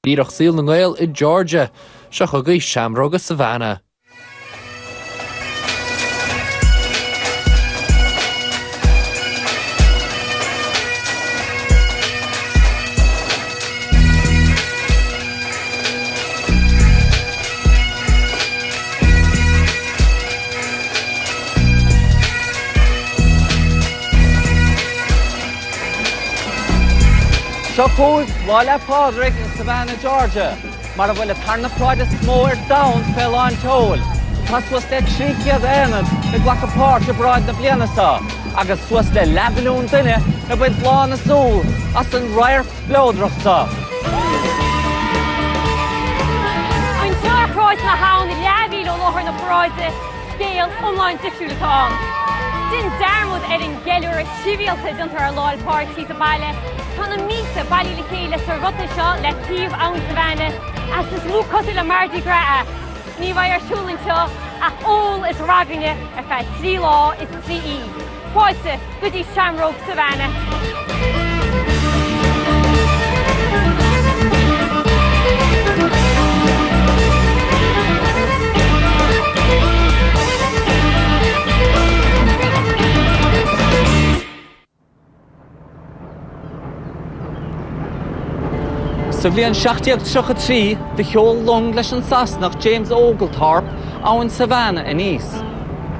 Díreach ar shaol na nGael i Georgia. Seo chugaibh Seamróga Savannah. Seo chugaibh Lá 'le Pádraig in Savannah, Georgia, mar a bhfuil an tarna paráid is mó ar domhan fé lán tseoil. Tá suas le 300 aonad ag glacadh páirt i bparáid na bliana seo agus suas le leathmhilliún duine ag baint lán a súl as an radharc spleodrach seo. Anseo ar Shráid na hAbhann leathmhíle ó láthair na paráide scéal iomlán difriúil atá ann. Déan dearmad ar an gceiliúradh sibhialta a dhéantar ar Lá 'le Pádraig sa bhaile. Tá na mílte bailithe le chéile sa ruta seo le taobh Abhainn Savannah, agus is mó is cosúil le Mardi Gras é. Ní bheidh ar siúl anseo ach ól is ragairne ar feadh trí lá is trí oíche. Fáilte go dtí Seamróga Savannah! Sa bhliain 1733 do sheol long leis an Sasanach James Oglethorpe abhainn Savannah aníos.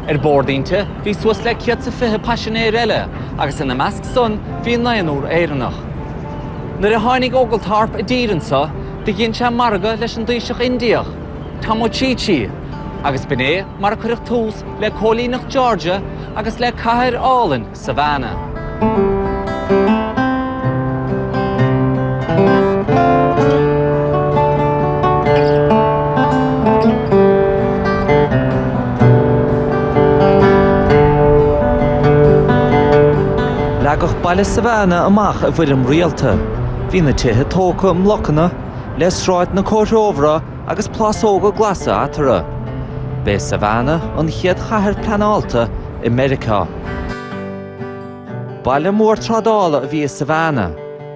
Ar bord inti bhí suas le céad is fiche paisinéir eile agus ina measc san bhí naonúr Éireannach. Nuair a tháinig Oglethorpe i dtír anseo do dhein sé margadh leis an dtaoiseach Indiach, Tomochichi, agus b'in é mar a cuireadh tús le cóilíneacht Georgia agus le cathair álainn Savannah. Leagadh baile Savannah amach i bhfoirm rialta. Bhí na tithe tógtha i mblocanna, le sráideanna comhthreomhara agus plásóga glasa eatarthu. B'é Savannah an chéad chathair pleanáilte i Meiriceá. Baile mór trádála a bhí i Savannah,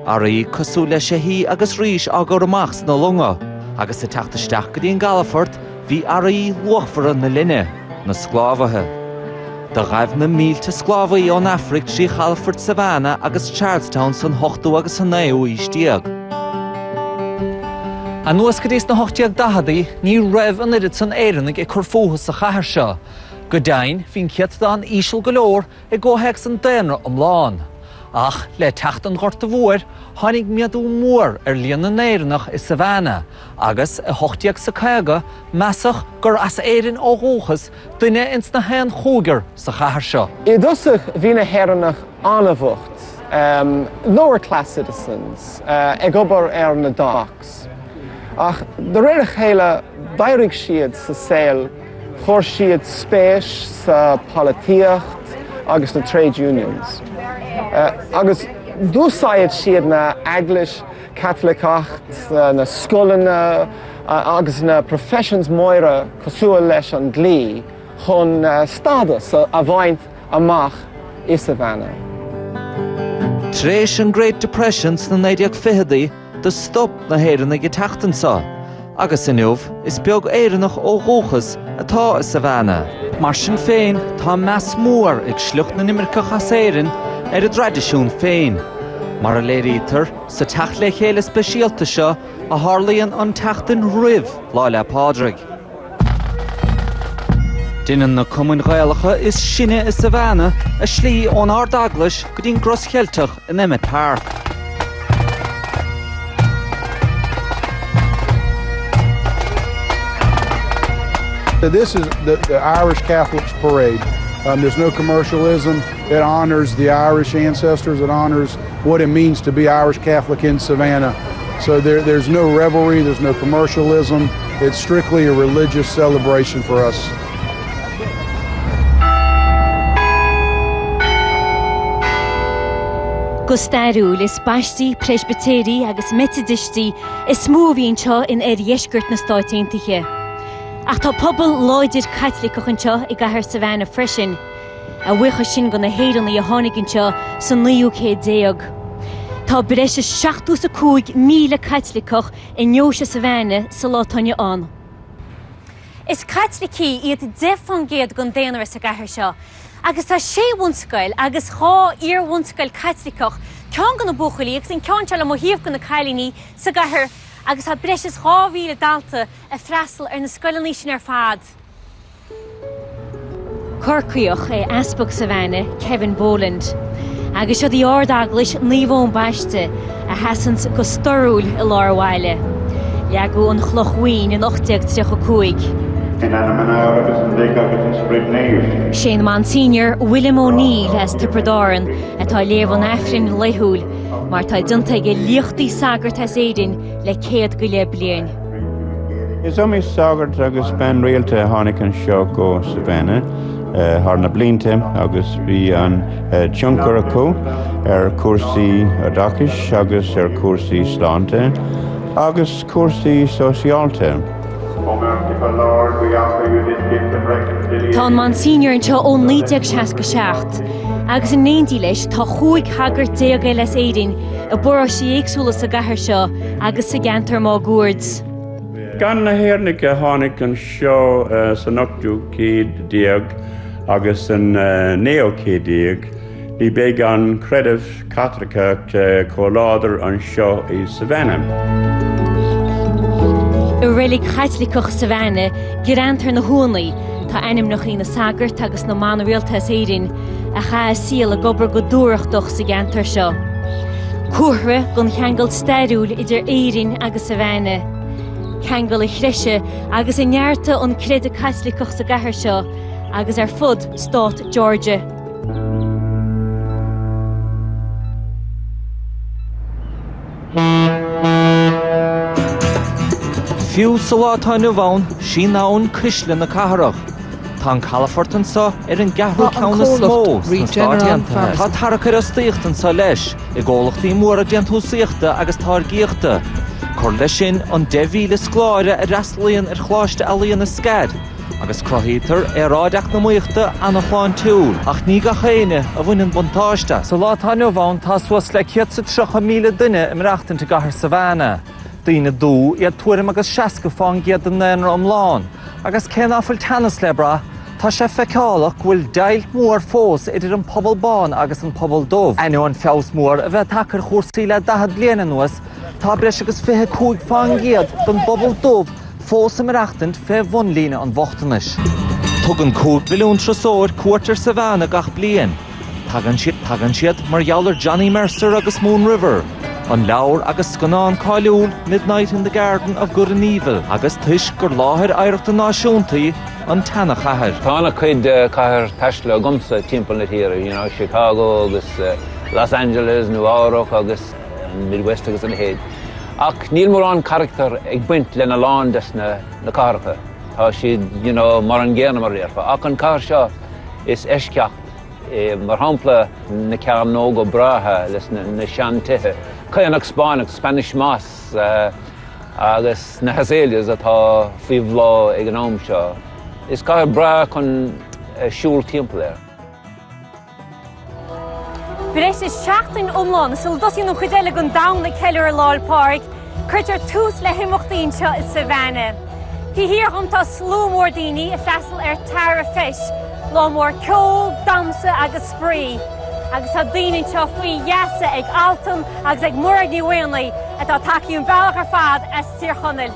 earraí cosúil le seithí agus rís á gcur amach sna longa agus ag teacht isteach go dtí an gcalafort Bhí earraí luachmhara na linne, na sclábhaithe. Do ghaibh na mílte sclábhaí ón Afraic trí chalafort Savannah agus Charlestown san ochtú agus sa naoú aois déag. Anuas go dtí sna hocht-déag-daicheadaí ní raibh an oiread san Éireannaigh ag cur fúthu sa chathair seo. Go deimhin, bhí an céatadán íseal go leor i gcomhthéacs an daonra iomlán. Ach le teacht an Ghorta Mhóir tháinig méadú mór ar líon na nÉireannach i Savannah agus, i hocht déag is a caoga, measadh gur as Éirinn ó dhúchas duine ins na haon chúigear sa chathair seo. I dtosach bhí na hÉireannach an-bhocht, lower class citizens, ag obair ar na docks, ach de réir a chéile d'éirigh siad sa saol, chuir siad spéis sa pholaitíocht agus na trade unions, agus d'úsáid siad an Eaglais Chaitliceach, na scoileanna agus na professions móra cosúil leis an dlí chun stádas a bhaint amach i Savannah. Tar éis an Great Depression sna 1920idí, Do stop na hÉireannaigh ag teacht anso, agus inniu is beag Éireannach ó dhúchas atá i Savannah. Mar sin féin, tá meas mór ag sliocht na n-imirceach as Éirinn ar a dtraidisiún féin, mar a léirítear sa teacht le chéile speisialta seo a tharlaíonn an tseachtain roimh Lá 'le Pádraig. Déanann na cumainn Ghaelacha is sine i Savannah a slí ón Ard-Eaglais go dtí an gCros Cheilteach in Emmet Park. This is the, the Irish Catholics Parade. Um, there's no commercialism. It honors the Irish ancestors. It honors what it means to be Irish Catholic in Savannah. So there there's no revelry, there's no commercialism, it's strictly a religious celebration for us. Go stairiúil, is Baistigh, Preispitéirigh agus Meitidistigh is mó a bhí anseo in oirdheisceart na Stáit Aontaithe. Ach tá pobal láidir Caitliceach anseo i gcathair Savannah freisin. A bhuíochas sin do na hÉireannaigh a tháinig anseo sa naoú céad déag, tá breis is seachtó is a cúig míle Caitliceach i ndeoise Savannah sa lá atá inniu ann. Is Caitlicigh iad deich fán gcéad den daonra sa gcathair seo, agus tá sé bhunscoil agus dhá iar-bhunscoil Caitliceach, ceann do na buachaillí agus an ceann seo le mo thaobh do na cailíní, sa gcathair agus tá breis is dhá mhíle dalta ag freastal ar na scoileanna sin ar fad. Corcaíoch é Easpag Savannah, Kevin Boland, agus siod í Ard-Eaglais Naomh Eoin Baiste a sheasanns go storrúil i lár an bhaile. Leagadh an chloch bhoinn in 1835. In ainm an Athar agus an Mhic agus an Sprid Naomh. Sé'n Monsignor William O'Neill as Tiobraid Árann atá ag léamh an Aifrinn laethúil mar tá déanta ag a liachtaí sagart as Éirinn le céad go leith bliain. Is iomaí sagart agus bean rialta a tháinig anseo go Savannah thar na blianta agus bhí an-tionchar acu ar chúrsaí oideachais agus ar chúrsaí sláinte agus cúrsaí sóisialta. Tá an Monsignor anseo ó 1967 agus in éindí leis tá chúig shagart déag eile as Éirinn i bparóistí éagsúla sa gcathair seo, agus sa gceantar máguaird. Gan na hÉireannaigh a tháinig anseo san ochtú céad déag agus san naoú céad déag, ní bheadh an creideamh Caitliceach chomh láidir anseo i Savannah. I reilig Chaitliceach Savannah, greanta ar na huaigheanna, tá ainmneacha na sagart agus na mban rialta as Éirinn, a chaith a saol ag obair go dúthrachtach sa gceantar seo. Comhartha den cheangal stairiúil idir Éirinn agus Savannah, ceangal a threisigh agus a neartaigh an creideamh Caitliceach sa gcathair seo agus ar fud stát Georgia. Fiú sa lá atá inniu ann, sí an abhainn cuisle na cathrach. Tá an calafort anseo ar an gceathrú ceann is mó sna Stáit Aontaithe. Tá tarrac ar fhostaíocht anseo leis, i gcomhlachtaí móra déantúsaíochta agus táirgíochta. Cuir leis sin an 10,000 scoláire a fhreastalaíonn ar Choláiste Ealaíon an SCAD. agus cruthaítear aeráid eacnamaíochta an-shláintiúil, ach ní gach éinne a bhaineann buntáiste as. Sa lá atá inniu ann, tá suas le 130,000 duine ag maireachtaint i gcathair Savannah. Daoine dubha iad tuairim agus 60 fán gcéad den ndaonra iomlán, agus cé ná fuil teannas le brath, tá sé feiceálach go bhfuil deighilt mhór fós idir an pobal bán agus an pobal dubh. Ainneoin feabhas mór a bheith tagtha ar chúrsaí le 40 bliain anuas, tá breis agus 25 fán gcéad den bpobal dubh, fós ag maireachtaint fé bhun líne an bhochtanais. Tugann cúig mhilliún turasóir cuairt ar Savannah gach bliain. Tagann siad mar gheall ar Johnny Mercer agus Moon River, an leabhar agus scannán cáiliúil Midnight in the Garden of Good and Evil agus toisc gur láthair oidhreachta náisiúnta í an tseanachathair. Tá ana-chuid cathair taistealta agamsa timpeall na tíre, Chicago agus Los Angeles, Nua-Eabhrac agus. an Midwest agus a leithéid. Ach níl mórán carachtar ag baint lena lán des na cathracha. Tá siad mar an gcéanna mar a déarfá. Ach an cathair seo is eisceacht é, mar shampla na cearnóga breátha le na seantithe, caonach Spáinneach, Spanish Moss, agus na hazaleas atá faoi bhláth ag an am seo. Is cathair breá chun siúl timpeall air. Breis is seachtain iomlán sula dtosaíonn an chuid eile den domhan ag ceiliúradh Lá 'le Pádraig, cuirtear tús le himeachtaí anseo i Savannah. Taobh thiar dhom tá slua mór daoine ag freastal ar Tara Feis, lá mór ceoil, damhsa agus spraoi. Agus tá daoine anseo faoi gheasa ag Altan agus ag Mairéad Ní Mhaonaigh atá ag tagtha an bealach ar fad as Tír Chonaill.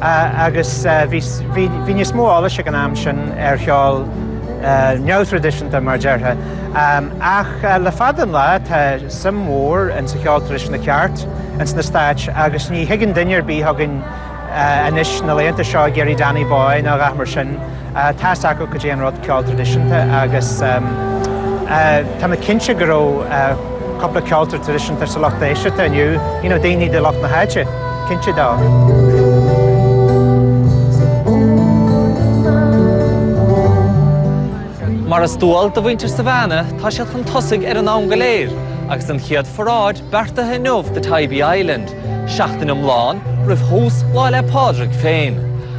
agus bhí níos mó eolais acu an t-am sin ar cheol neamhthraidisiúnta, mar a déarfá. Ach le fada an lá tá suim mhór insa cheol traidisiúnta ceart insna Stáit agus ní thigeann duine ar bith chugainn anois na laethanta seo ag iarraidh Danny Boy nó a dhath mar sin. Tá a fhios acu goidé an rud ceol traidisiúnta agus tá mé cinnte go raibh cúpla ceoltóir traidisiúnta sa lucht éisteachta inniu, you know daoine de lucht na háite, cinnte tá. Mar is dual do mhuintir Savannah, tá siad chun tosaigh ar an dream go léir agus an chéad pharáid, beartaithe inniubh do Tybee Island, seachtain iomlán roimh thús Lá 'le Pádraig féin,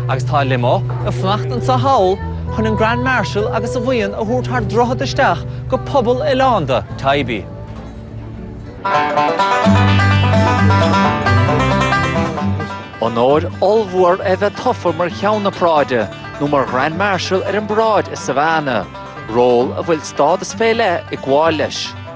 agus tá limo ag fanacht anseo thall chun an Grand Marshal agus a bhuíon a thabhairt thar droichead isteach go pobal oileánda Tybee. Onóir ollmhór é a bheith tofa mar Cheann na Paráide nó mar Grand Marshal ar an bparáid i Savannah, ról a bhfuil stádas fé leith ag gabháil leis.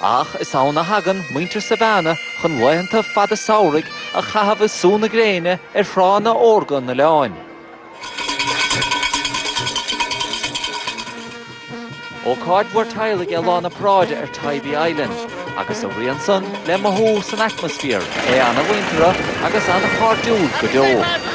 Ach is ann a thagann muintir Savannah chun laethanta fada samhraidh a chaitheamh ag sú na gréine ar thránna órga an oileáin. Ócáid mhór teaghlaigh é Lá na Paráide ar Tybee Island agus a rian san le mothú san atmaisféar, é ana-mhuinteartha agus ana-chairdiúil go deo.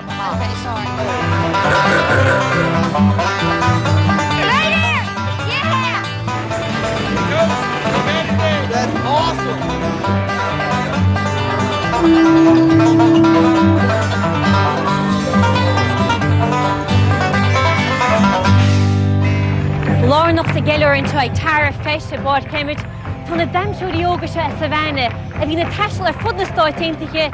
Lárnach sa cheiliúradh anseo ag Tara Feis i bPáirc Emmet. Tá na damhsóirí óga seo as Savannah, a bhíonn ag taisteal ar fud na Stát Aontaithe,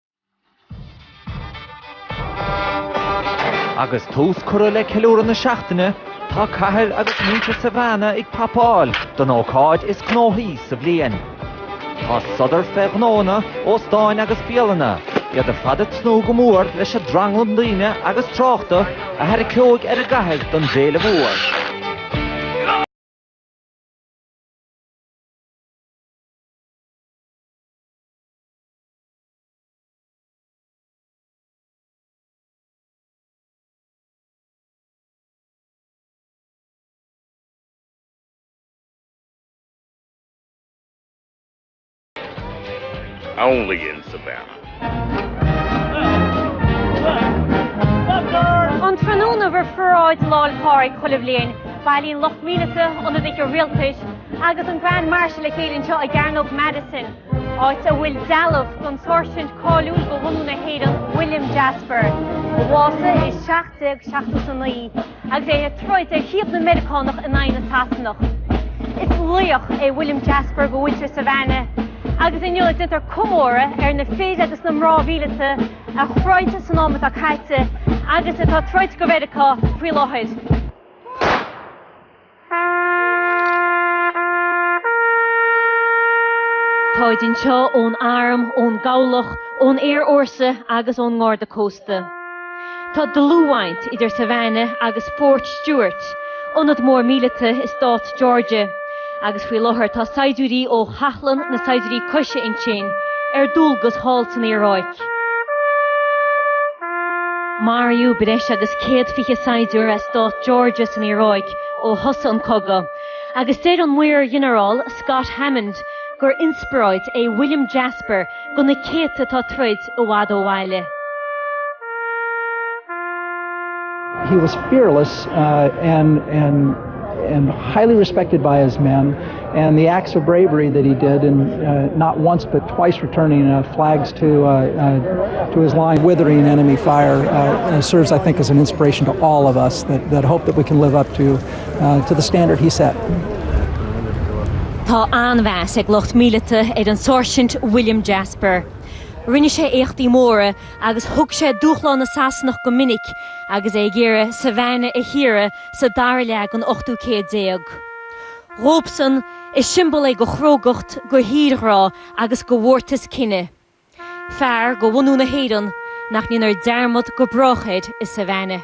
Agus tús curtha le ceiliúradh na seachtaine, tá cathair agus muintir Savannah ag prapáil don ócáid is gnóthaí sa bhliain. Tá sodar fé ghnóanna, óstáin agus bialanna, iad ar fad ag tnúth go mór leis an dtranglam daoine agus tráchta a tharraiceoidh ar an gcathair don bhféile mhór. Only in Savannah. An tráthnóna roimh pharáid Lá 'le Pádraig chuile bhliain, bailíonn lucht míleata, ionadaithe rialtais agus an Grand Marshal le chéile anseo i gCearnóg Madison. áit a bhfuil dealbh den sáirsint cáiliúil go bhunadh na hÉireann, William Jasper, a bhásaigh i 1779 agus é ag troid ar thaobh na Meiriceánach in aghaidh na Sasanach. Is laoch é William Jasper go bhfuil sé i Savannah, agus inniu déantar comóradh ar na fir agus na mná mhíleata a throid san am atá caite agus atá ag troid go Mheiriceá faoi láthair. Tá siad anseo ón Arm, ón gCabhlach, ón Aerfhórsa agus ón nGarda Cósta. Tá dlúthbhaint idir Savannah agus Fort Stewart, ionad mór míleata i Stát Georgia, agus faoi láthair tá saighdiúirí ó Chathlán na Saighdiúirí Coise ansin ar dualgas thall san Iaráic. Iaráic. Maraíodh breis agus céad fiche saighdiúir as stát Georgia san Iaráic ó thosaigh an cogadh, agus deir an Maor-Ghinearál Scott Hammond gur inspioráid é William Jasper do na céadta atá ag troid i bhfad ó bhaile. He was fearless and highly respected by his men. and the acts of bravery that he did not once but twice returning flags to to his line withering enemy fire serves I think as an inspiration to all of us that that hope that we can live up to to the standard he set. Tá an-mheas ag lucht míleata ar an Sáirsint William Jasper. Rinne sé éachtaí móra agus thug sé dúshlán na Sasanach go minic agus é ag iarraidh Savannah a shaoradh sa dara leath den ochtú céad déag. Dóibhsean, is siombail é go chrógacht, go thírghrá agus go mhórtas cine. Fear go bhunadh na hÉireann nach ndéanfar dearmad go brách air i Savannah.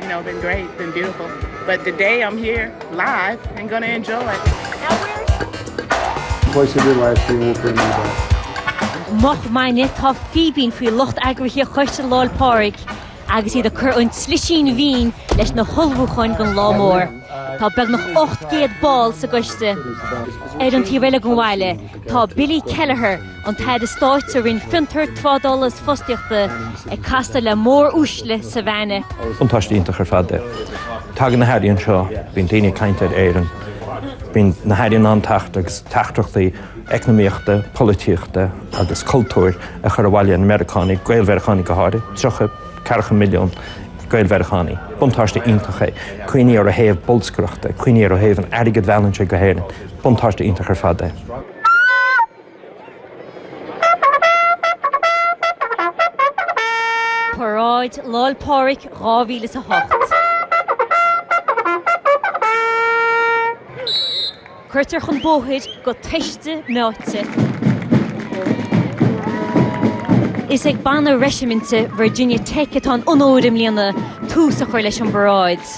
You know, been great, been beautiful, but the day I'm here live and going to enjoy. Twice in your life you won't bring me back. Moch maidine, tá fíbín faoi lucht eagraithe Choiste Lá 'le Phádraig agus iad ag cur an tslisín mhín leis na hullmhúcháin don lá mór. Tá beagnach 800 ball sa gcoiste ar an taobh eile den bhaile. Tá Billy Kelleher, an tAire Stáit sa Roinn Fiontar, Trádála is Fostaíochta, ag castáil le móruaisle Savannah. Buntáiste iontach ar fad é. Tagann na hairí anseo, bíonn daoine ag caint ar Éirinn, bíonn na hairí in ann teacht agus teachtaireachtaí eacnamaíochta, polaitíochta agus cultúir a chur abhaile ar na Meiriceánaigh, Gael-Mheiriceánaigh go háirithe, tríocha, ceathracha milliún Gael-Mheiriceánaigh. Buntáiste iontach é. Cuimhnigh air ó thaobh bolscaireachta, cuimhnigh air ó thaobh an airgid a mheallann sé go hÉirinn. Buntáiste iontach ar fad é. Paráid Lá'l Pádraig 2008. Cuirtear chun bóthair go toiste meáite. Is ag banna reisiminte Virginia Tech atá an onóir i mbliana tús a chur leis an bparáid.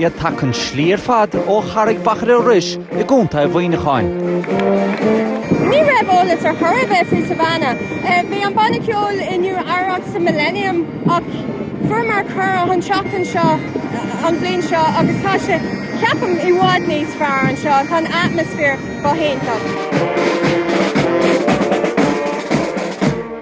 iad tagtha an slí ar fad ó Charraig Mhachaire Rois i gContae Mhuineacháin. Ní raibh eolas ar chor ar bith faoi Savannah. Bhí an banna ceoil i Nua-Eabhrac sa Millennium ach fuaireamar cuireadh an tseachtain seo an bhliain seo agus tá sé, ceapaim, i bhfad níos fearr anseo. Tá an atmaisféar go hiontach.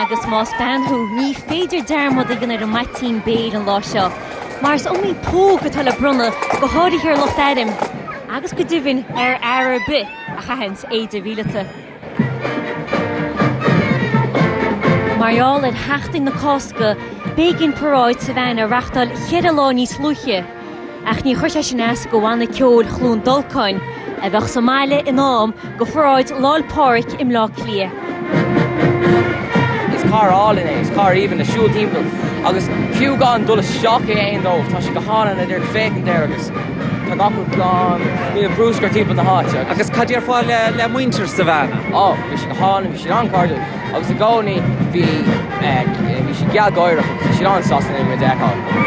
Agus más bean thú, ní féidir dearmad a dhéanamh ar mhaitín béil an lá seo, mar is iomaí póg atá le bronnadh, go háirithe ar lucht airm agus go deimhin ar fhear ar bith a chaitheanns éide mhíleata. Mar gheall ar Sheachtain na Cásca, b'éigean paráid Savannah a reáchtáil cheithre lá níos luaithe. Ach níor chuir sé sin as go Bhanna Ceoil Chluain Dolcáin, a bheadh sa mbaile in am go pharáid Lá'l Pádraig i mBleá Cliath. Is cathair álainn é, is cathair aoibhinn le siúl timpeall agus fiú gan dul isteach in aon dóibh, tá sé go hálainn le díreach féachaint air agus tá gach rud glan, níl brúscar timpeall na háite. Agus céard iad ar fáil le muintir Savannah? Ó, bhí siad go hálainn, bhí siad an-chairdiúil. Agus i gcónaí bhí siad gealgháireach agus bhí siad an-sásta linn muid a fheiceáil.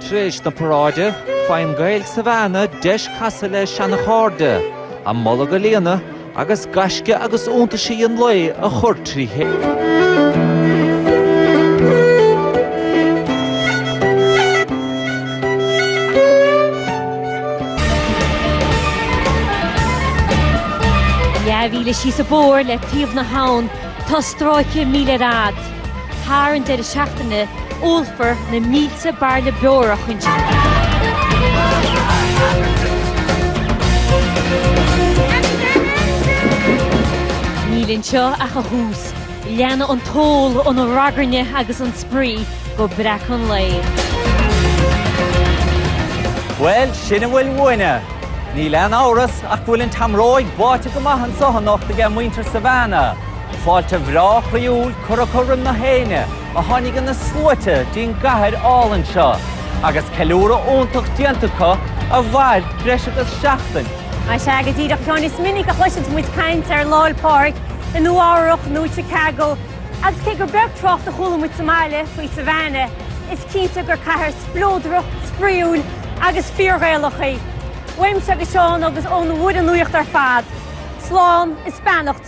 Tar éis na paráide, faigheann Gaeil Savannah deis casadh le seanchairde, a mbolg a líonadh agus gaisce agus iontaisí an lae a chur trí chéile. Leathmhíle síos an bóthar le taobh na habhann tá stráice míle ar fad. Thar an deireadh seachtaine, ólfar na mílte bairille beora choíche. Níl anseo ach an tús. Leanfaidh an t-ól, an ragairne agus an spraoi go breac an lae. Bhuel, sin a bhfuil uainne. Níl aon amhras ach go bhfuil an tseamróig báite go maith anseo anocht ag muintir Savannah. Fáilte bhreá chroíúil curtha roimh gach éinne a tháinig ina sluaite dtí'n gcathair álainn seo agus ceiliúradh iontach déanta acu a mhair breis agus seachtain. Sea go díreach a Sheáin is minic a chloiseanns muid caint ar Lá'l Pádraig i Nua Eabhrach nó i Chicago agus cé gur beag trácht a chuala muid sa mbaile faoi Savannah is cinnte gur cathair spleodrach, spraoiúil agus fíor-Ghaelach í. Uaimse agus Seán agus ón bhfoireann nuachta ar fad, slán is beannacht.